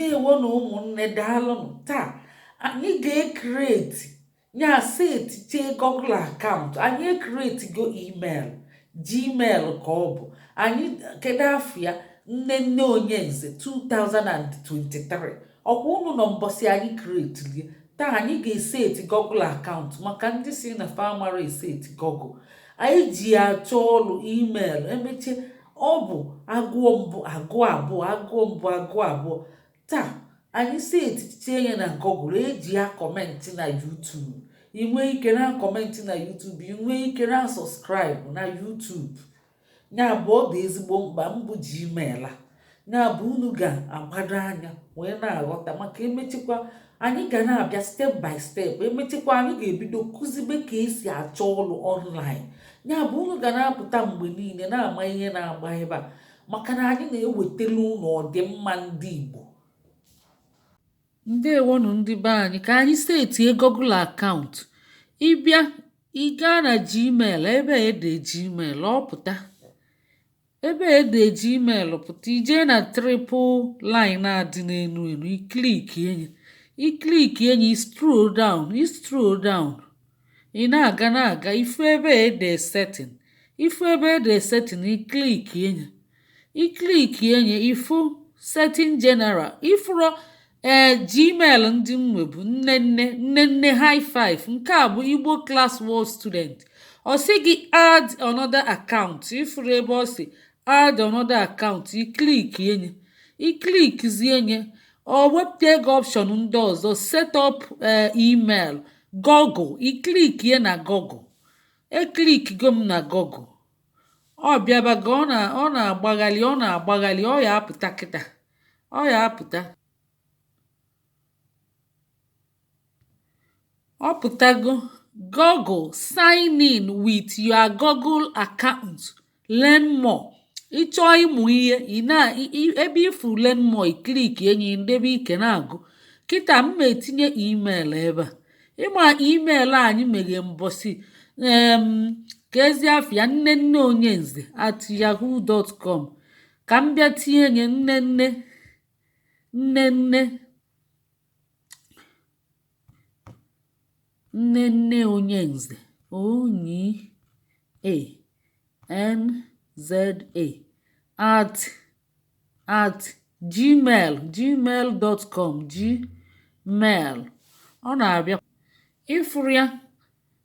ndewonụ ụmụnne daalụnụ taa anyị ga-ekreti ya setichee Google akaụntụ anyị ekretigo email gmail ka ọ bụ anyị kedu afa ya Nnenne Onyenze 2023 ọ kwa unu nọ mbọsị anyị kretili taa anyị ga-eseti Google akaụntụ maka ndị sị na fa amarọ eseti Google anyị ji achọ ọrụ email emechie ọ bụ agụọ mbụ agụọ abụọ agụọ mbụ agụọ abụọ taa anyị setiche ya na Google e ji ya akọmentị na YouTube ị nwee ike na-akọmentị na YouTube ị nwee ike na-asọskraịbụ na YouTube ya bụ ọ dị ezigbo mkpa mbụ Gmail a ya bụ unu ga-agbado anya wee na-aghọta maka emechikwa anyị ga na-abịa step by step emechikwa anyị ga-ebido kuzibe ka e si achọ ọrụ online ya bụ unu ga na-apụta mgbe niile na-ama ihe na-agba ebe a maka na anyị na-ewetara unu ọdịmma ndị Igbo ndewonu ndị be anyị ka anyị setie Google akaụntụ ị bịa ị gaa na Gmail ebe e dee Gmail ọ pụta ebe e dee Gmail pụta i jee na triple line a dị n'elu elu i klikie nye i klikie nye scroll down scroll down ị na-aga na-aga ị fụ ebe e dee setting ị fụ ebe e dee setting i klikie nye i klikie nye ị fụ setting general ị fụrụ ee gmail ndị m nwebu Nnenne Nnenne high five nke a bụ igbo class world student ọ sị gị add another account ị fụrụ ebe ọ sị add another account i klikie nye i klikizie nye ọ wepụta gị option ndị ọzọ set up email google i klikie na google eklikigo m na google ọ bịabago ọ na-agbagharị ọ na-agbagharị ọ ya-apụta kịta ọ ya-apụta ọ pụtago Google sign in with your Google account learn more ị chọọ ịmụ ihe ị na ebe ị fụ learn more i klikie nye ndebe ike na-agụ kịta m ma-etinye email ebe a ị ma email anyị meghe mbọsị keezi afa ya Nnenne Onyenze at yahoo dot com ka m bịa tinye nye Nnenne Nnenne Nnenne Onyenze onyi a n z a at at gmail gmail dot com gmail ọ na-abịa ị fụrụ ya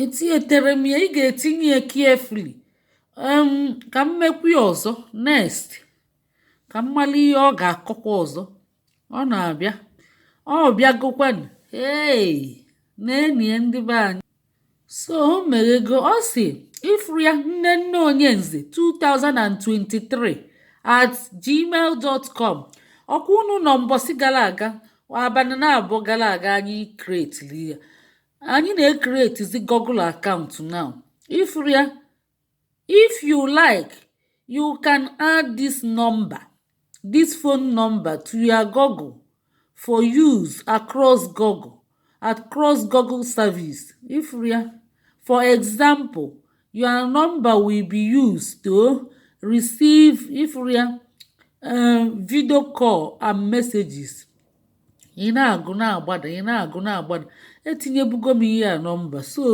etinyetere m ya ị ga-etinye ya carefully ka m mekwu ya ọzọ next ka m mara ihe ọ ga-akọkwa ọzọ ọ na-abịa ọ bịagokwanụ ee na-enye ndị be anyị so o meghego ọ sị ịfụrụ ya nnenne onyenze 2023 at gmail dot com ọkwa unu nọ mbọsị gara aga abalị naabọ gara aga anyị kretiri ya anyị na-ekretizi google akaụntụ now ifuru ya if you like you can add this number this phone number to your google for use across google across google service ifuru ya for example your number will be used to receive ifuru ya um, video call and messages ị na-agụ na-agbada ị na-agụ na-agbada etinyebugo m ihe a nọmba so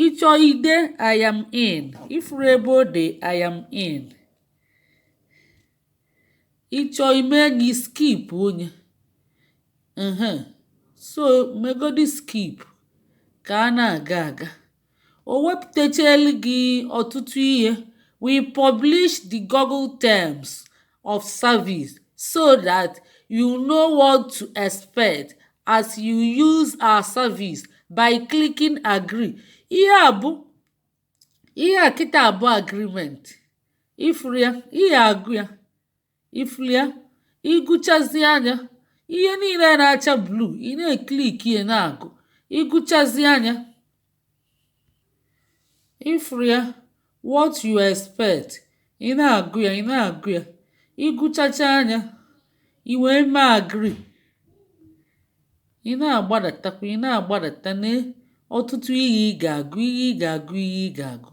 ịchọ ide I am in ifuru ebe o de I am in ịchọ ime enyi skip onye so megodi skip ka a na-aga aga o wepụtachara gị ọtụtụ ihe we publish the google terms of service so that you know what to expect as you use our service by clicking agree ihe a bụ ihe a kịta bụ agreement ifuru ya ị ya-agụ ya ifuru ya ịgụchazia nya ihe niile na-acha blue ị na-ekliki ya na-agụ ịgụchazia nya ifuru ya what you expect ị na-agụ ya ị na-agụ ya ịgụchachaa nya i wee mee agree ị na-agbadatakwa ị na-agbadata nee ọtụtụ ihe ị ga-agụ ihe ị ga-agụ ihe ị ga-agụ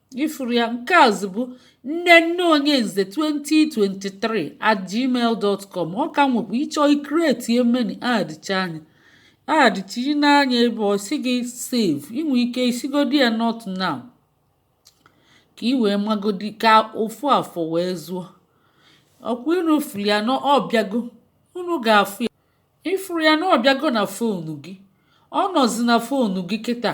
ifuru ya nke azụ bụ nnenne onyenze 2023 at gmail dot com ọ ka nwekwa ịchọ ikreti emeni adịcha anya adịchiri n'anya ebe ọ sị gị save inwe ike isigodi ya not now ka ị wee magodi ka ofu afọ wee zuo ọkwa unu furu ya na ọbịago unu ga-afụ ya ịfụrụ ya na ọbịago na fonu gị ọ nọzi na fonu gị kịta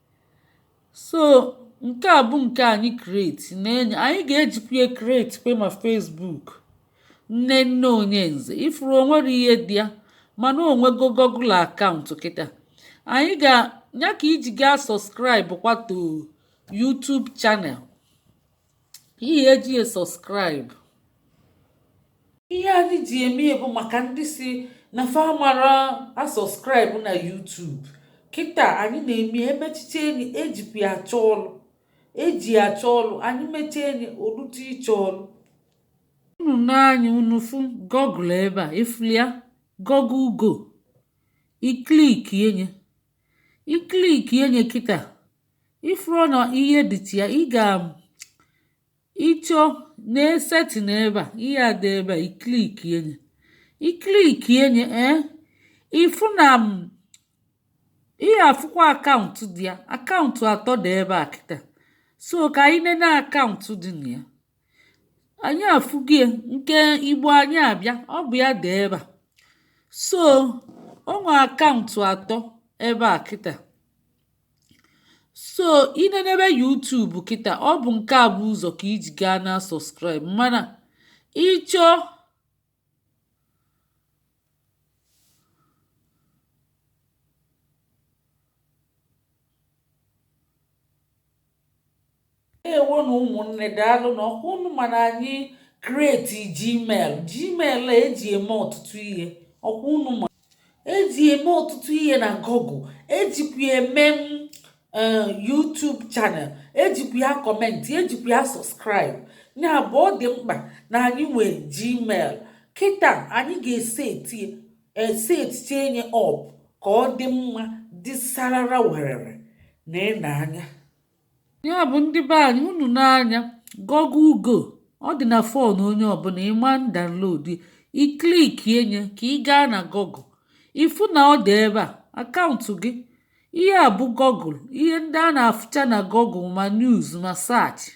so nke a bụ nke anyị create na-enye anyị ga-ejikwa ya create kwa ma Facebook nnenne onyenze ifuru onwero ihe dị ya mana onwego Google akaụntụ kịta anyị ga ya ka iji gaa subscribe kwa to YouTube channel ihe eji esọskraịbụ ihe anyị ji eme bụ maka ndị si na fa amarọ asọskraịbụ na YouTube kịta anyị na-eme emechiche nye ejikwa ya achọ ọlụ eji ya achọ ọlụ anyị mechie nye o lute ịchọ ọlụ unu nee anya unu fụ gọgụl ebe a ifulu ya gọgụl go i klikie nye i klikie nye kịta ifuru na ihe dịtụ ya ị ga ịchọ na-esetị n'ebe a ihe a dị ebe a i klikie nye i klikie nye ee ifu na m ị ya-afụkwa akaụntụ dị ya akaụntụ atọ dị ebe a kịta so ka anyị nene akaụntụ dị na ya ànyị àfụgo ya ǹke igbo ànyị àbịa ọ bụ̀ ya dị̀ ebe à so o nwè àkaụ̀ntụ̀ àtọ ebe à kịtà so i nene ebe youtube kịtà ọ bụ̀ ǹke à bụ̀ ụzọ̀ kà ijì gaa na subscribe mànà ị chọọ ewo nụ ụmụnne daalụ nụ ọkwa unu ma na anyị kreti gmail gmail eji eme ọtụtụ ihe ọkwa unu ma eji eme ọtụtụ ihe na google ejikwa eme eh, YouTube chanel ejikwa ya kọmentị ejikwa ya sọskraịbụ ya bụ ọ dị mkpa na anyị nwee gmail kịta anyị ga-eseti esetiche nye ọp ka ọ dị mma dị sarara werere na ine anya ya bụ ndị be anyị unu nee anya gọgụl go ọ dị na fon onye ọbụla ịma download i klikie nye ka ị gaa na gọgụ ịfụ na ọ dị ebe a akaụntụ gị ihe a bụ gọgụl ihe ndị a na-afụcha na gọgụl ma news ma saachị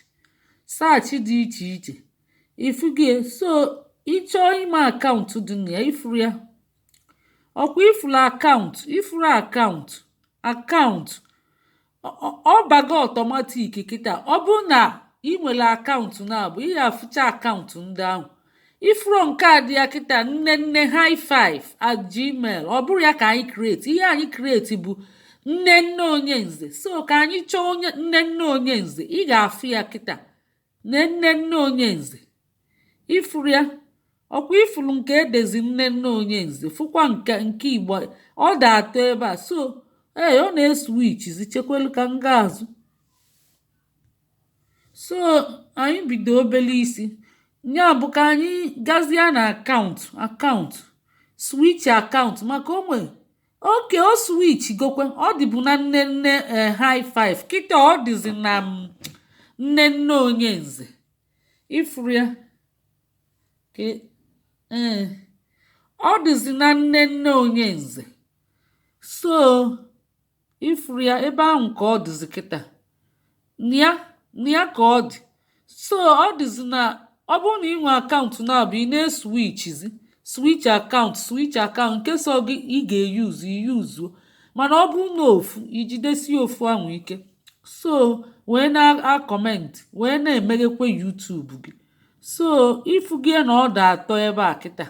saachị dị iche iche ịfụgo ya so ịchọọ ime akaụntụ dị na ya ifuru ya ọkwa ifuru akaụntụ ifuru akaụntụ akaụntụ ọ bago ọtọmatik kịta ọ bụrụ na ị nwere akaụntụ na mbụ ị ga-afụcha akaụntụ ndị ahụ ifuru nke a dị ya kịta nne nne high five at gmail ọ bụrọ ya ka anyị kreti ihe anyị kreti bụ nne nne onye nze so ka anyị chọọ onye nne nne onye nze ị ga-afụ ya kịta nne nne nne onye nze ifuru ya ọkwa ifuru nke edezi nne nne onye nze fụkwa nke nke igbo ọ dị atọ ebe a so ee ọ na-eswichizi chekwelu ka m gaa azụ so anyị bido obele isi nya bụ ka anyị gazie na akaụntụ akaụntụ switch akaụntụ maka o nwe oke o switchigokwe ọ dịbu na Nnenne eh, high five kịta ọ dịzi na mm, Nnenne Onyenze ị fụrụ ya ka e- ee ọ dịzi na Nnenne Onyenze so ị fụrụ ya ebe ahụ ka ọ dịzi kịta na ya na ya ka ọ dị so ọ dịzi na ọ bụrụ na ị nwee akaụntụ naabọ ị na-eswichizi swich akaụntụ swich akaụntụ nke sọ gị ị ga-eyuzu i yuzuo mana ọ bụrụ na ofu i jidesi ofu ahụ ike so wee na-akọmentị wee na-emeghekwa YouTube gị so ị fụgie na ọ dị atọ ebe a kịta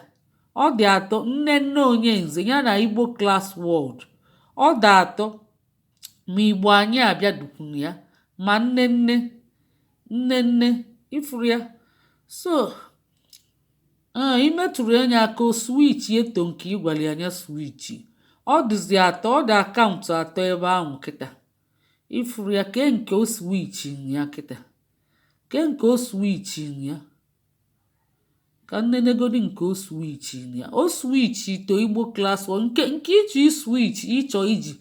ọ dị atọ Nnenne Onyenze ya na Igbo Class World ọ dị atọ ma igbo anyị abịa dịkwanụ ya ma Nnenne Nnenne ị fụrụ ya so ee i metụrụ nye aka o swichie to nke ị gwara ya nya swichi ọ dịzi atọ ọ dị akaụntụ atọ ebe ahụ kịta ị fụrụ ya ke nke o swichi ya kịta ke nke o swichi ya ka m nenegodi nke o swichi ya o swichi to Igbo Class nke nke ị chọ iswichi ị chọ iji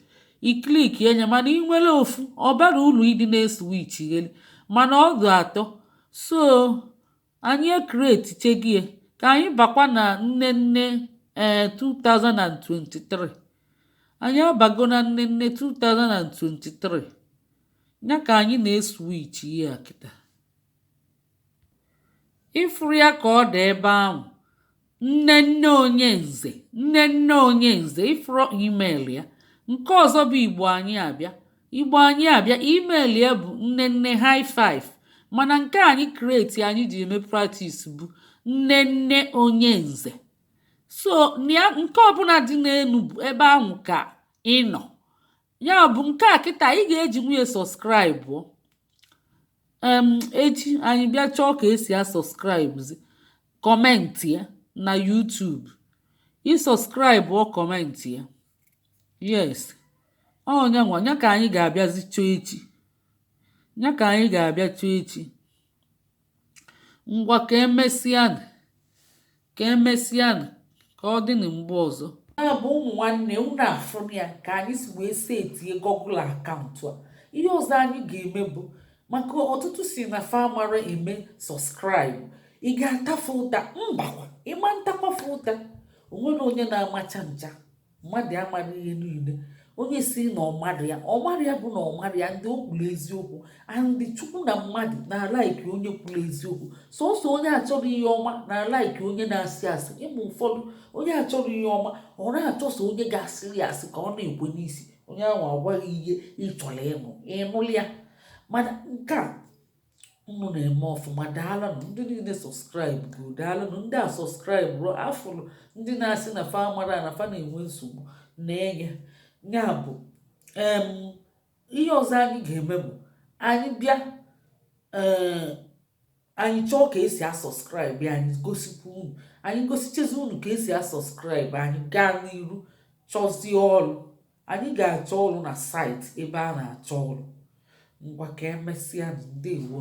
i klikie nye mana ị nwere ofu ọ barọ uru ịdị na-eswichigheli mana ọ dị atọ so anyị ekretichegie ka anyị bakwa na Nnenne ee 2023 anyị abago na Nnenne 2023 ya ka anyị na-eswichi ya kịta ị fụrụ ya ka ọ dị ebe ahụ Nnenne Onyenze Nnenne Onyenze ị fụrụ email ya nke ọzọ bụ igbo anyị abịa igbo anyị abịa email ya bụ Nnenne high five mana nke anyị kreti anyị ji eme practice bụ Nnenne Onyenze so nke ọbụla dị n'elu bụ ebe ahụ ka ị nọ ya bụ nke a kịta ị ga-ejinwu nye sọskraịbụ um echi anyị bịa chọọ ka e si asọskraịbụzi kọmentịa na YouTube ị sọskraịbụọ kọmentịa yes ọ nya nwa nya ka anyị ga-abịazi chọọ echi nya ka anyị ga-abịa chọọ echi ngwa ka emesịa Ka emesịanụ, ka ọ dịnụ mgbe ọzọ. Ya bụ ụmụ nwanne unu afụrụ ya ka anyị si wee setie Google akaụntụ a. Ihe ọzọ anyị ga-eme bụ maka ọtụtụ sị na fa amarọ eme sọskraịbụ. Ị ga-ata fa ụta? Mbakwa, ị ma-atakwa fa ụta. O nwerọ onye na-amacha ncha. mmadụ amaghị ihe niile onye si na ọ maghị ya ọ maghị ya bụ na ọ maghị ya and o kwuru eziokwu and chukwu na mmadụ na-alaiki onye kwuru eziokwu sọsọ onye achọrọ ihe ọma na-alaiki onye na-asị asị ị ma ụfọdụ onye achọrọ ihe ọma ọ na-achọso onye ga-asịrị ya asị ka ọ na-ekwe n'isi onye ahụ agwa gị ihe ị chọrọ ịnụ ị ṅụlịa mana nke a unu na-eme ọfụma daalụnụ ndị niile sọskraịbụgoro daalụnụ ndị asọskraịbụrọ afụrụ ndị na-asị na fa amarọ na fa na-enwe nsogbu na nya nya bụ ihe ọzọ anyị ga-eme bụ anyị bịa eh, anyị chọọ ka esi asọskraịbụ anyị gosikwa unu anyị gosichezi unu ka esi asọskraịbụ anyị gaa n'iru chọzie ọrụ anyị ga-achọ ọrụ na saịtị ebe a na-achọ ọrụ ngwa ka emesịanụ ndewo